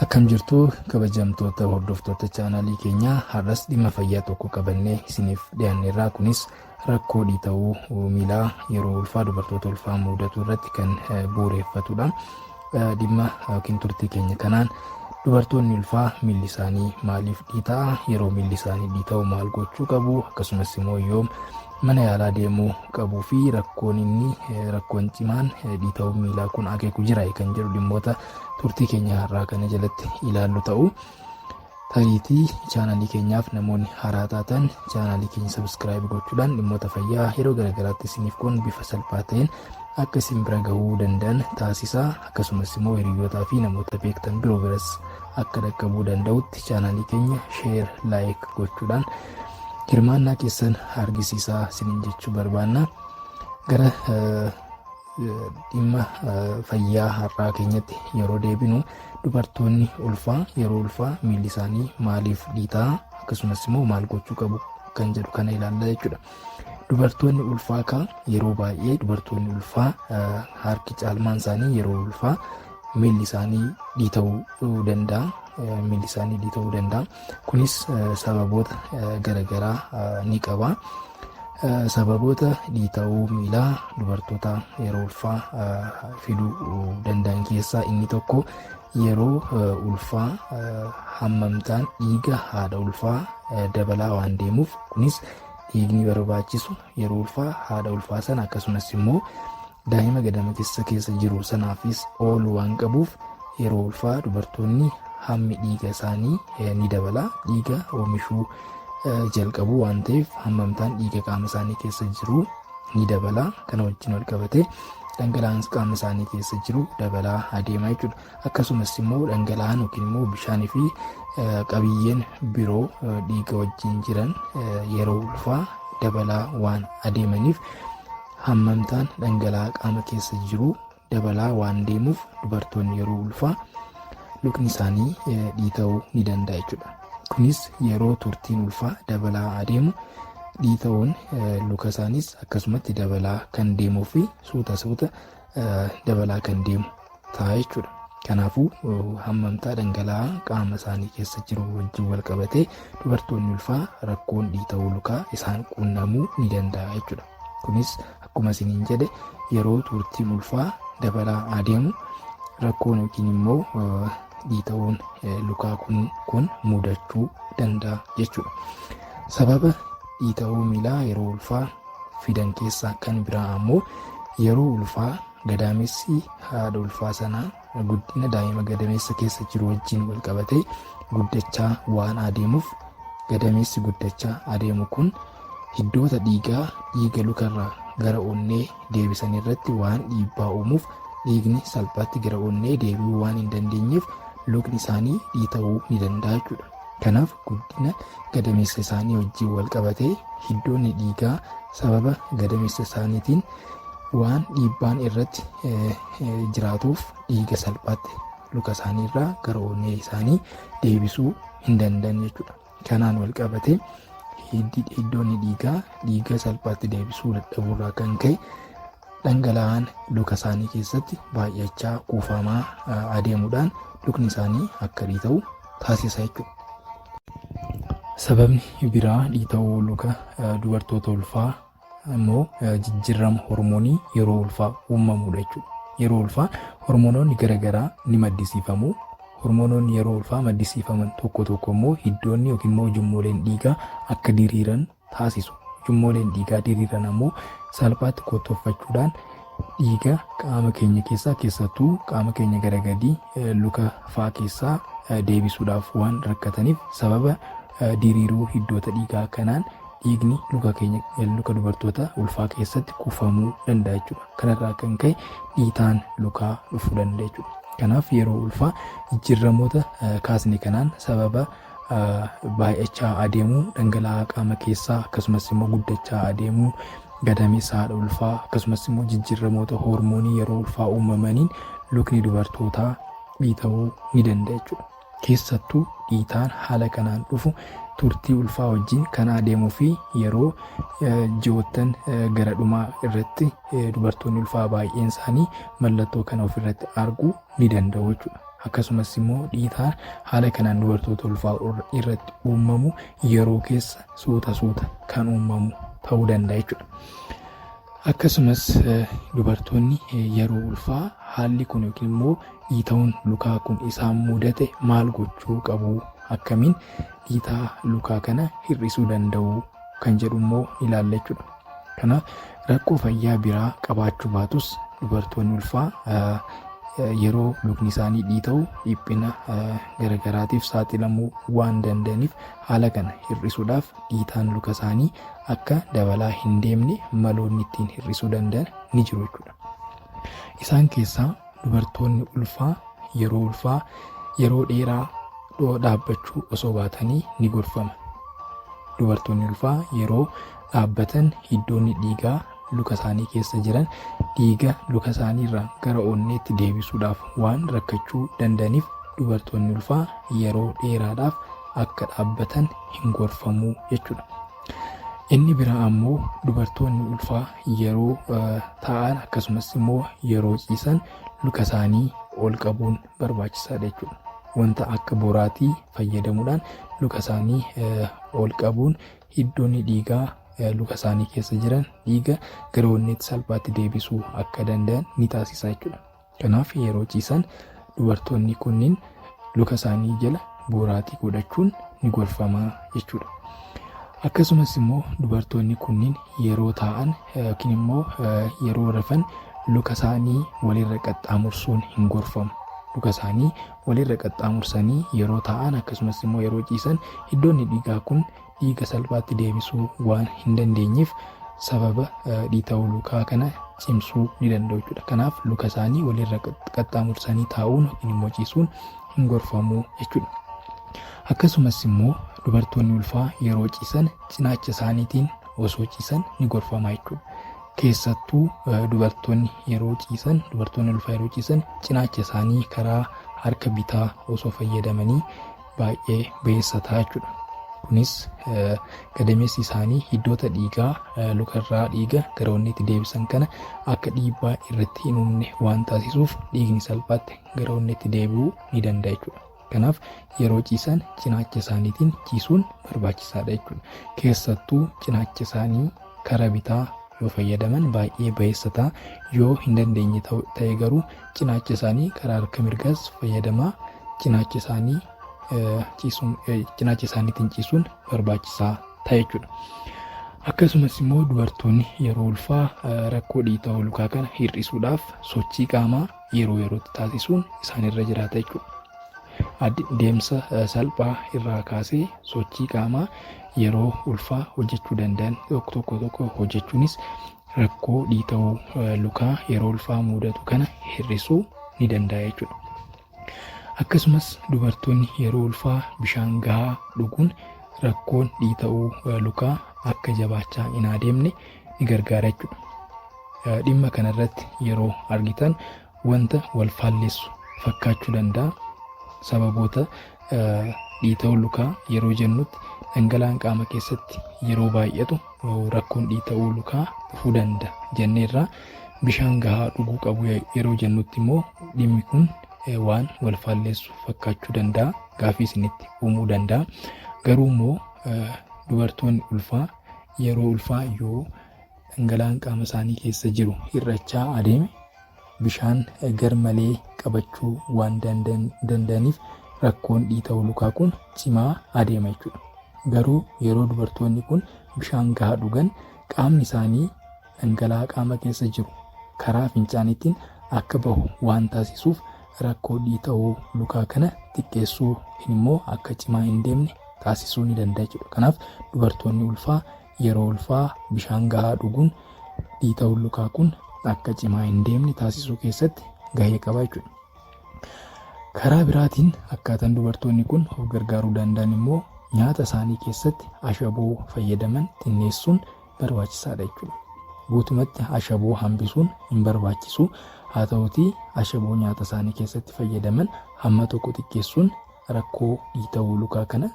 Akkam jirtu kabajamtoota hordoftoota chaanaalii keenyaa har'as dhimma fayyaa tokko qabannee isiniif dhiyaanneerraa kunis rakkoo dhiita'uu miilaa yeroo ulfaa dubartoota ulfaa mudatu irratti kan bu'uureffatudha. Dhimma yookiin turtii keenya kanaan dubartoonni ulfaa miilli isaanii maaliif dhiita'a yeroo miilli isaanii dhiita'u maal gochuu qabu akkasumas immoo yoom mana yaalaa deemuu qabuu fi rakkoon inni rakkoon cimaan dhiita'uu miilaa kun akeeku jira kan jedhu dhimmoota turtii keenya har'aa kana jalatti ilaallu ta'u. Tariitii chaanaalii keenyaaf namoonni haaraa taatan chaanaalii keenya sabiskiraayib gochuudhaan dhimmoota fayyaa yeroo garaagaraatti isiniif kun bifa salphaa ta'een akka isin bira gahuu danda'an taasisaa akkasumas immoo hiriyootaa fi namoota beektan biroo biras akka dhaqqabuu danda'utti chaanaalii keenya sheer laayik gochuudhaan hirmaannaa keessan argisiisaa isiniin jechuu barbaanna. Gara dhimma fayyaa har'aa keenyatti yeroo deebinu dubartoonni ulfaa yeroo ulfaa miilli isaanii maaliif dhiitaa akkasumas immoo maal gochuu qabu kan jedhu kana ilaalla jechuudha. Dubartoonni ulfaa kaa yeroo baay'ee dubartoonni ulfaa harki caalmaan isaanii yeroo ulfaa miilli isaanii dhiita'uu danda'a. Miilli isaanii dhiita'uu danda'a. Kunis sababoota garagaraa ni qaba. Sababoota dhiita'uu miilaa dubartoota yeroo ulfaa fiduu danda'an keessaa inni tokko yeroo ulfaa hammamtaan dhiiga haadha ulfaa dabalaa waan deemuuf kunis dhiigni barbaachisu yeroo ulfaa haadha ulfaa sana akkasumas immoo Daa'ima gadama kessa keessa jiru sanaafis oolu waan qabuuf yeroo ulfaa dubartoonni hammi dhiiga isaanii ni dabala dhiiga oomishuu jalqabu waan ta'eef hammamtaan dhiiga qaama isaanii keessa jiru ni dabala kana wajjin wal qabatee dhangala'aan qaama isaanii keessa jiru dabalaa adeema jechuudha. Akkasumas immoo dhangala'aan yookiin immoo bishaanii fi qabiyyeen biroo dhiiga wajjin jiran yeroo ulfaa dabalaa waan adeemaniif Hammamtaan dhangala'aa qaama keessa jiru dabalaa waan deemuuf dubartoonni yeroo ulfaa lukni isaanii dhiita'uu ni danda'a jechuudha. Kunis yeroo turtiin ulfaa dabalaa adeemu dhiita'uun luka isaaniis akkasumatti dabalaa kan deemuu fi suuta suuta dabalaa kan deemu ta'a jechuudha. Kanaafuu hammamtaa dhangala'aa qaama isaanii keessa jiru wajjin wal qabatee dubartoonni ulfaa rakkoon dhiita'uu lukaa isaan quunnamuu ni danda'a jechuudha. Kunis akkuma isiniin jedhe yeroo turtiin ulfaa dabalaa adeemu rakkoon yookiin immoo dhiita'uun lukaa kun mudachuu danda'a jechuudha. Sababa dhiita'uu miilaa yeroo ulfaa fidan keessaa kan biraa ammoo yeroo ulfaa gadaamessi haadha ulfaa sanaa guddina daa'ima gadameessa keessa jiru wajjin wal qabatee guddachaa waan adeemuuf gadameessi guddachaa adeemu kun hiddoota dhiigaa dhiiga lukarraa gara onnee deebisan irratti waan dhiibbaa uumuuf dhiigni salphaatti gara onnee deebi'uu waan hin dandeenyeef lukni isaanii dhiita'uu ni danda'a jechuudha. Kanaaf guddina gadameessa isaanii wajjin wal qabatee hiddoonni dhiigaa sababa gadameessa isaaniitiin waan dhiibbaan irratti jiraatuuf dhiiga salphaatti luka isaanii irraa gara onnee isaanii deebisuu hin danda'an jechuudha. Kanaan wal qabatee hiddoonni dhiigaa dhiiga salphaatti deebisuu dadhabuurraa kan ka'e dhangala'aan luka isaanii keessatti baay'achaa kuufamaa adeemuudhaan lukni isaanii akka dhiita'u taasisa jechuudha. Sababni biraa dhiita'uu luka dubartoota ulfaa immoo jijjiirama hormoonii yeroo ulfaa uumamudha jechuudha. Yeroo ulfaa hormoonoonni garaagaraa ni maddisiifamu. Hormoonoonni yeroo ulfaa maddisiifaman tokko tokko immoo hiddoonni yookiin immoo ujummooleen dhiigaa akka diriiran taasisu. Ujummooleen dhiigaa diriiran ammoo salphaatti kottooffachuudhaan dhiiga qaama keenya keessaa keessattuu qaama keenya gara gadii eh, luka faa keessaa eh, deebisuudhaaf waan rakkataniif sababa eh, diriiruu hiddoota dhiigaa kanaan dhiigni luka keenya eh, luka dubartoota ulfaa keessatti kuufamuu danda'a jechuudha. Kanarraa kan ka'e dhiitaan lukaa dhufuu danda'a jechuudha. Kanaaf yeroo ulfaa jijjiirramoota eh, kaasne kanaan sababa baay'achaa adeemu dhangala'aa qaama keessaa akkasumas immoo guddachaa adeemu gadameessa haadha ulfaa akkasumas immoo jijjiirramoota hoormoonii yeroo ulfaa uumamaniin lukni dubartootaa dhiita'uu ni danda'a jechuudha. Keessattuu dhiitaan haala kanaan dhufu turtii ulfaa wajjin kan adeemuu fi yeroo ji'oottan gara dhumaa irratti dubartoonni ulfaa baay'een isaanii mallattoo kana ofirratti argu ni danda'u jechuudha. Akkasumas immoo dhiitaan haala kanaan dubartoota ulfaa irratti uumamu yeroo keessa suuta suuta kan uumamu ta'uu danda'a jechuudha. Akkasumas dubartoonni yeroo ulfaa haalli kun yookiin immoo dhiita'uun lukaa kun isaan mudate maal gochuu qabu akkamiin dhiitaa lukaa kana hir'isuu danda'u kan jedhu immoo ilaalla jechuudha. Kanaaf rakkoo fayyaa biraa qabaachuu baatus dubartoonni ulfaa yeroo lukni isaanii dhiita'u dhiphina garagaraatiif saaxilamuu waan danda'aniif haala kana hir'isuudhaaf dhiitaan luka isaanii akka dabalaa hin deemne maloonni ittiin hir'isuu danda'an ni jiru jechuudha. Isaan keessaa dubartoonni ulfaa yeroo ulfaa yeroo dheeraa dhoo dhaabbachuu osoo baatanii ni gorfama. Dubartoonni ulfaa yeroo dhaabbatan hiddoonni dhiigaa luka isaanii keessa jiran dhiiga luka isaaniirraa gara onneetti deebisuudhaaf waan rakkachuu danda'aniif dubartoonni ulfaa yeroo dheeraadhaaf akka dhaabbatan hin gorfamu jechuudha. Inni biraa ammoo dubartoonni ulfaa yeroo taa'an akkasumas immoo yeroo ciisan luka isaanii ol qabuun barbaachisaadha jechuudha. Wanta akka boraatii fayyadamuudhaan luka isaanii ol qabuun Hiddoonni dhiigaa luka isaanii keessa jiran dhiiga gara onneetti salphaatti deebisuu akka danda'an ni taasisa jechuudha. Kanaaf yeroo ciisan dubartoonni kunniin luka isaanii jala booraatii godhachuun ni gorfama jechuudha. Akkasumas immoo dubartoonni kunniin yeroo taa'an yookiin immoo yeroo rafan luka isaanii walirra qaxxaamursuun hin gorfamu. Luka isaanii walirra qaxxaamursanii yeroo taa'an akkasumas immoo yeroo ciisan iddoonni dhiigaa kun dhiiga salphaatti deebisuu waan hin dandeenyeef sababa dhiita'uu lukaa kana cimsuu ni danda'u jechuudha. Kanaaf luka isaanii walirra qaxxaamursanii taa'uun yookiin immoo ciisuun hin gorfamu jechuudha. Akkasumas immoo dubartoonni ulfaa yeroo ciisan cinaacha isaaniitiin osoo ciisan ni gorfama jechuudha. keessattuu dubartoonni yeroo ciisan dubartoonni ulfaa yeroo ciisan cinaacha isaanii karaa harka bitaa osoo fayyadamanii baay'ee beessa ta'a jechuudha. Kunis gadameessi isaanii hiddoota dhiigaa lukarraa dhiiga gara onneetti deebisan kana akka dhiibbaa irratti hin uumne waan taasisuuf dhiigni salphaatti gara onneetti deebi'uu ni danda'a jechuudha. Kanaaf yeroo ciisan cinaacha isaaniitiin ciisuun barbaachisaadha jechuudha. Keessattuu cinaacha isaanii kara bitaa yoo fayyadaman baay'ee bayeessa ta'a. Yoo hin dandeenye ta'e garuu cinaacha isaanii kara harka mirgaas fayyadamaa cinaacha isaanii ciisuun cinaacha isaaniitiin ciisuun barbaachisaa ta'a jechuudha. Akkasumas immoo dubartoonni yeroo ulfaa rakkoo dhiita'uu lukaa kana hir'isuudhaaf sochii qaamaa yeroo yerootti taasisuun isaan irra jiraata jechuudha. Deemsa salphaa irraa kaasee sochii qaamaa yeroo ulfaa hojjechuu danda'an tokko tokko tokko hojjechuunis rakkoo dhiita'uu lukaa yeroo ulfaa mudatu kana hir'isuu ni danda'a jechuudha. Akkasumas dubartoonni yeroo ulfaa bishaan gahaa dhuguun rakkoon dhiita'uu lukaa akka jabaachaa hin adeemne ni gargaara jechuudha. Dhimma kanarratti yeroo argitan wanta wal faallessu fakkaachuu danda'a. Sababoota dhiita'uu lukaa yeroo jennutti dhangala'aan qaama keessatti yeroo baay'atu rakkoon dhiita'uu lukaa dhufuu danda'a jenneerraa bishaan gahaa dhuguu qabu yeroo jennutti immoo dhimmi kun waan wal faallessu fakkaachuu danda'a gaafii isinitti uumuu danda'a garuu immoo dubartoonni ulfaa Yeroo ulfaa yoo dhangala'aan qaama isaanii keessa jiru hir'achaa adeeme bishaan garmalee qabachuu waan danda'aniif rakkoon dhiita'uu lukaa kun cimaa adeema jechuudha. Garuu yeroo dubartoonni kun bishaan gahaa dhugan qaamni isaanii dhangala'aa qaama keessa jiru karaa fincaaniitiin akka bahu waan taasisuuf rakkoo dhiita'uu lukaa kana xiqqeessuu yookiin immoo akka cimaa hin deemne taasisuu ni danda'a jechuudha. Kanaaf dubartoonni ulfaa yeroo ulfaa bishaan gahaa dhuguun dhiita'uun lukaa kun akka cimaa hin deemne taasisuu keessatti gahee qaba jechuudha. Karaa biraatiin akkaataan dubartoonni kun of gargaaruu danda'an immoo nyaata isaanii keessatti ashaboo fayyadaman xinneessuun barbaachisaadha jechuudha. Guutumatti ashaboo hambisuun hin barbaachisu. Haa ta'utii ashaboo nyaata isaanii keessatti fayyadaman hamma tokko xiqqeessuun rakkoo dhiitawuu lukaa kana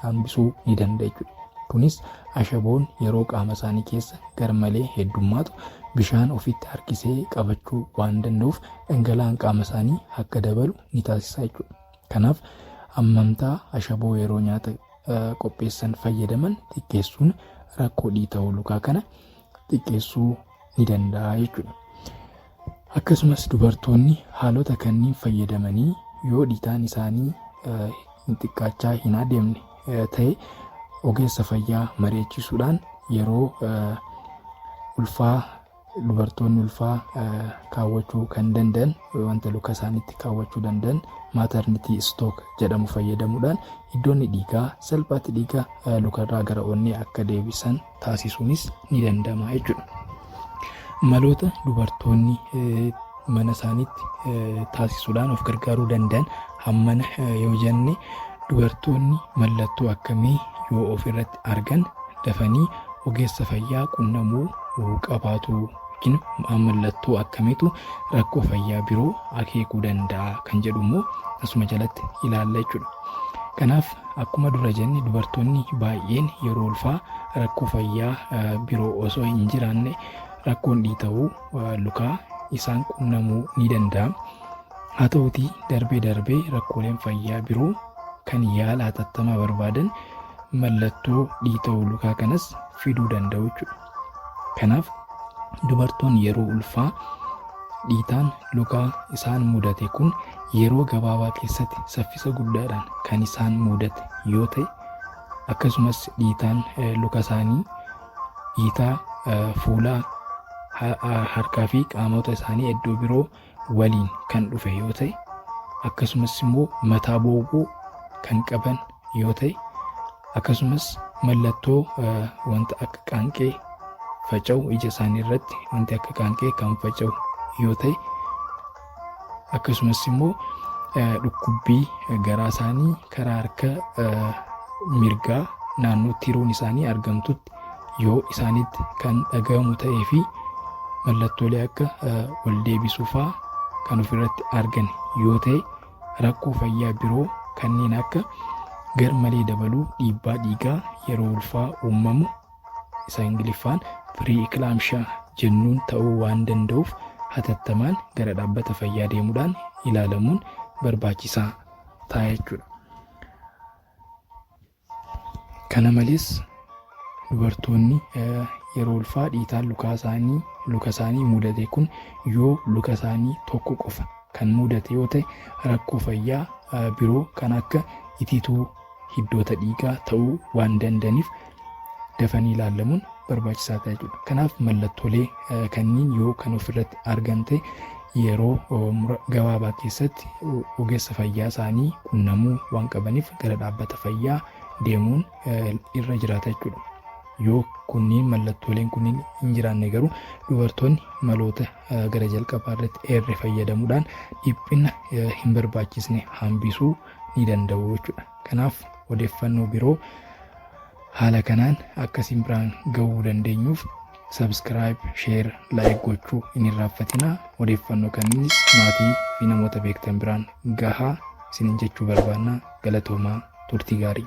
hambisuu ni danda'a jechuudha. Kunis ashaboon yeroo qaama isaanii keessa garmalee heddummaatu bishaan ofitti harkisee qabachuu waan danda'uuf dhangala'aan qaama isaanii akka dabalu ni taasisa jechuudha. Kanaaf hammantaa ashaboo yeroo nyaata qopheessan fayyadaman xiqqeessuun rakkoo dhiita'uu lukaa kana xiqqeessuu ni danda'a jechuudha. Akkasumas dubartoonni haalota kanniin fayyadamanii yoo dhiitaan isaanii hin xiqqaachaa hin adeemne ta'e ogeessa fayyaa mari'achiisuudhaan yeroo ulfaa dubartoonni ulfaa kaawwachuu kan danda'an wanta luka isaaniitti kaawwachuu danda'an maatarnitii istook jedhamu fayyadamuudhaan iddoonni dhiigaa salphaatti dhiiga lukarraa gara onnee akka deebisan taasisuunis ni danda'ama jechuudha. Maloota dubartoonni mana isaaniitti taasisuudhaan of gargaaruu danda'an hammana yoo jenne dubartoonni mallattoo akkamii yoo of irratti argan dafanii ogeessa fayyaa qunnamuu qabaatu yookiin mallattoo akkamiitu rakkoo fayyaa biroo akeekuu danda'a kan jedhu immoo asuma jalatti ilaalla jechuudha. Kanaaf akkuma dura jenne dubartoonni baay'een yeroo ulfaa rakkoo fayyaa biroo osoo hin jiraanne rakkoon dhiita'uu lukaa isaan qunnamuu ni danda'a. Haa ta'utii darbee darbee rakkooleen fayyaa biroo kan yaala hatattamaa barbaadan mallattoo dhiita'uu lukaa kanas fiduu danda'u jechuudha. Kanaaf dubartoonni yeroo ulfaa dhiitaan lukaa isaan mudate kun yeroo gabaabaa keessatti saffisa guddaadhaan kan isaan mudate yoo ta'e akkasumas dhiitaan luka isaanii dhiitaa fuulaa harkaa fi qaamota isaanii iddoo biroo waliin kan dhufe yoo ta'e akkasumas immoo mataa booguu kan qaban yoo ta'e akkasumas mallattoo wanta akka qaanqee faca'u ija isaanii irratti wanti akka qaanqee kan faca'u yoo ta'e akkasumas immoo dhukkubbii garaa isaanii karaa harka mirgaa naannoo tiroon isaanii argamtutti yoo isaanitti kan dhagahamu ta'ee fi mallattoolee akka wal deebisuu fa'aa kan ofirratti argan yoo ta'e rakkoo fayyaa biroo kanneen akka garmalee dabaluu dhiibbaa dhiigaa yeroo ulfaa uumamu isa Ingiliffaan pre-eclampsia jennuun ta'uu waan danda'uuf hatattamaan gara dhaabbata fayyaa deemuudhaan ilaalamuun barbaachisaa ta'a jechuudha. Kana malees dubartoonni yeroo ulfaa dhiitaan lukaa isaanii luka isaanii mudate kun yoo luka isaanii tokko qofa kan mudate yoo ta'e rakkoo fayyaa biroo kan akka itituu hiddoota dhiigaa ta'uu waan danda'aniif dafanii ilaalamuun barbaachisaa ta'a jechuudha. Kanaaf mallattoolee kanniin yoo kan ofirratti argan ta'e yeroo gabaabaa keessatti ogeessa fayyaa isaanii qunnamuu waan qabaniif gara dhaabbata fayyaa deemuun irra jiraata jechuudha. Yoo kunniin mallattooleen kunniin hin jiraanne garuu dubartoonni maloota gara jalqabaa irratti eerre fayyadamuudhaan dhiphina hin barbaachisne hambisuu ni danda'u jechuudha. Kanaaf odeeffannoo biroo haala kanaan akka isin biraan ga'uu dandeenyuuf subscribe, share, like gochuu hin irraanfatinaa. Odeeffannoo kamiinis maatii fi namoota beektan biraan gahaa isinin jechuu barbaanna. Galatoomaa turtii gaarii.